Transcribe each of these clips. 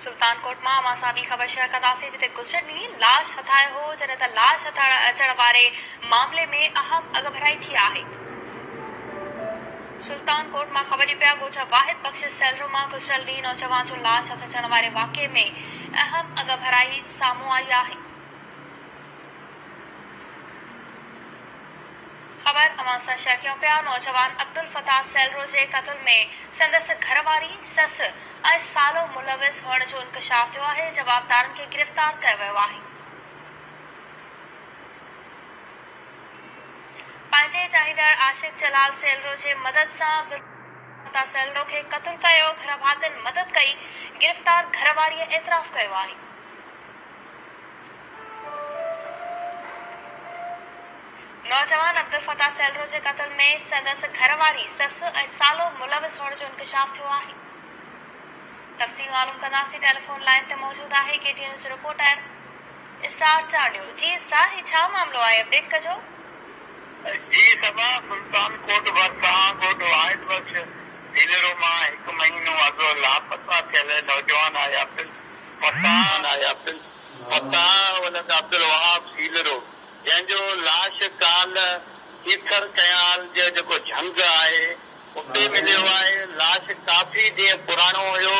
سلطان ڪوٽ مان اوهان سان ٻي خبر شيئر ڪنداسين جتي گذشتڙ ڏينهن لاش هٿايو هو جڏهن ته لاش هٿائڻ اچڻ واري معاملي ۾ اهم اڳڀرائي ٿي آهي سلطان ڪوٽ مان خبر ڏين پيا ڳوٺ واحد بخش سيلرو مان گذشتڙ ڏينهن نوجوان جو لاش هٿ اچڻ واري واقعي ۾ اهم اڳڀرائي سامهون آئي آهي. خبر اوهان سان شيئر ڪيون پيا، نوجوان عبدالفتاح سيلرو جي قتل ۾ سندس گهر واري، سس ۽ سالو ملوث هئڻ جو انڪشاف ٿيو آهي، جوابدارن کي گرفتار ڪيو ويو آهي. پنهنجي چاهيندڙ عاشق جلال سيلرو جي مدد سان عبدالفتاح سيلرو کي قتل ڪيو، گهر ڀاتين مدد ڪئي، گرفتار گهر واريء اعتراف ڪيو آهي. نوجوان عبدالفتاح سيلرو جي قتل ۾ سندس گهر واري، سس ۽ سالو ملوث هئڻ جو انڪشاف ٿيو آهي. تفصيل معلوم ڪنداسين ٽيليفون لائين تي موجود آهي K T news reporter star Chandio جي اسٽار هي ڇا معاملو آهي اپڊيٽ ڪجو. جي سبا سلطان ڪوٽ ڀرسان ڳوٺ واحد بخش سيلرو مان هڪ مهينو اڳ لاپتا ٿيل نوجوان آهي عبدل. فتاح فتاح ولد عبدالوهاب سيلرو جنهن جو لاش ڪالهه ڪيٿر ڪئنال جي جيڪو جهنگ آهي اتي مليو آهي لاش ڪافي ڏينهن پراڻو هيو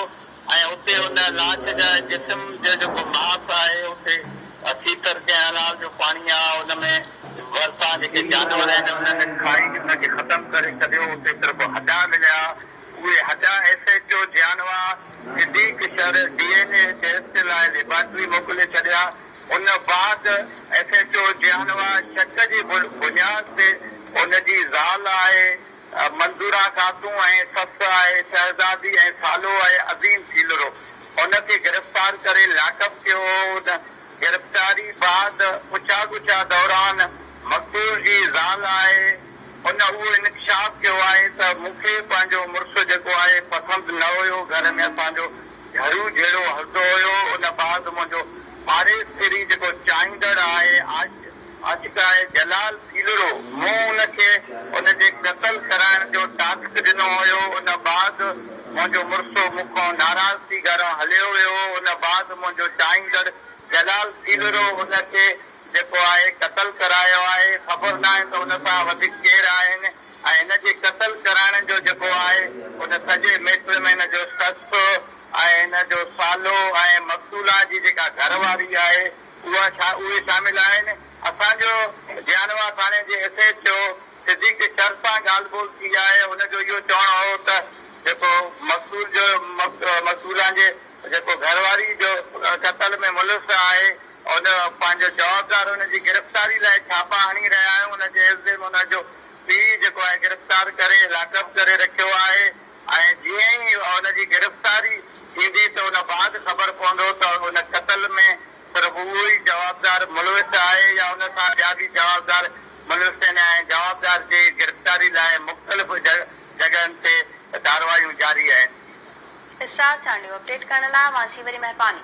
۽ اتي ان لاش جا جسم جو جيڪو ماس آهي اتي ڪيٿر ڪئنال جو پاڻي آهي ان ۾ ڀرسان جيڪي جانور آهن انهن کائي ان کي ختم ڪري ڇڏيو اتي صرف هڏا مليا اهي هڏا S H O Jiyanwa Siddique Shar D N A test لاء ليبارٽري موڪلي ڇڏيا، ان بعد ايس ايڇ او جيانوا شڪ جي بنياد تي ان جي زال آهي منظوره خاتون ۽ سس آهي شهزادي ۽ سالو آهي عظيم ڇيلرو ان کي گرفتار ڪري لاڪ اپ ڪيو هو، ان گرفتاري بعد پڇا ڳڇا دوران مقتول جي زال آهي ان اهو انڪشاف ڪيو آهي ته مون کي پنهنجو مڙس جيڪو آهي پسند نه هيو گهر ۾ اسان جو جھڙو جھيڙو هلندو هيو ان بعد منهنجو پاڙيسري جيڪو چاهيندڙ آهي عاشق اڄ ڪالهه جلال ڀيلڙو مون ان کي ان جي قتل ڪرائڻ جو ٽاسڪ ڏنو هيو ان بعد منهنجو مڙسو مون کان ناراض ٿي گهران هليو ويو هو ان بعد منهنجو چاهيندڙ جلال ڀيلڙو ان کي جيڪو آهي قتل ڪرايو آهي خبر ناهي ته ان سان وڌيڪ ڪير آهن ۽ هن جي قتل ڪرائڻ جو جيڪو آهي ان سڄي ميٽر ۾ هن جو سس ۽ هن جو سالو ۽ مقتولا جي جيڪا گهر واري آهي اها ڇا اهي شامل آهن. اسان جو جيانوا ٿاڻي جي S H O Siddique Shar سان ڳالهه ٻولهه ٿي آهي هن جو اهو چوڻ هو ته جيڪو مقتول جو مقتولان جي جيڪو گهرواري جو قتل ۾ ملوث آهي ان پنهنجو جوابدار ان جي گرفتاري لاء ڇاپا هڻي رهيا آهيون ان جي عيوض ۾ ان جو پيء جيڪو آهي گرفتار ڪري لاڪ اپ ڪري رکيو آهي. ۽ جيئن ئي ان جي گرفتاري ٿيندي ته ان بعد خبر پوندو ته ان قتل ۾ صرف اهو ئي جوابدار ملوث آهي يا ان سان ٻيا به جوابدار ملوث آهن ۽ جوابدار جي گرفتاري لاء مختلف جڳهن تي ڪارروايون جاري آهن. اسٽار چانڊيو اپڊيٽ ڪرڻ لاء اوهان جي وڏي مهرباني.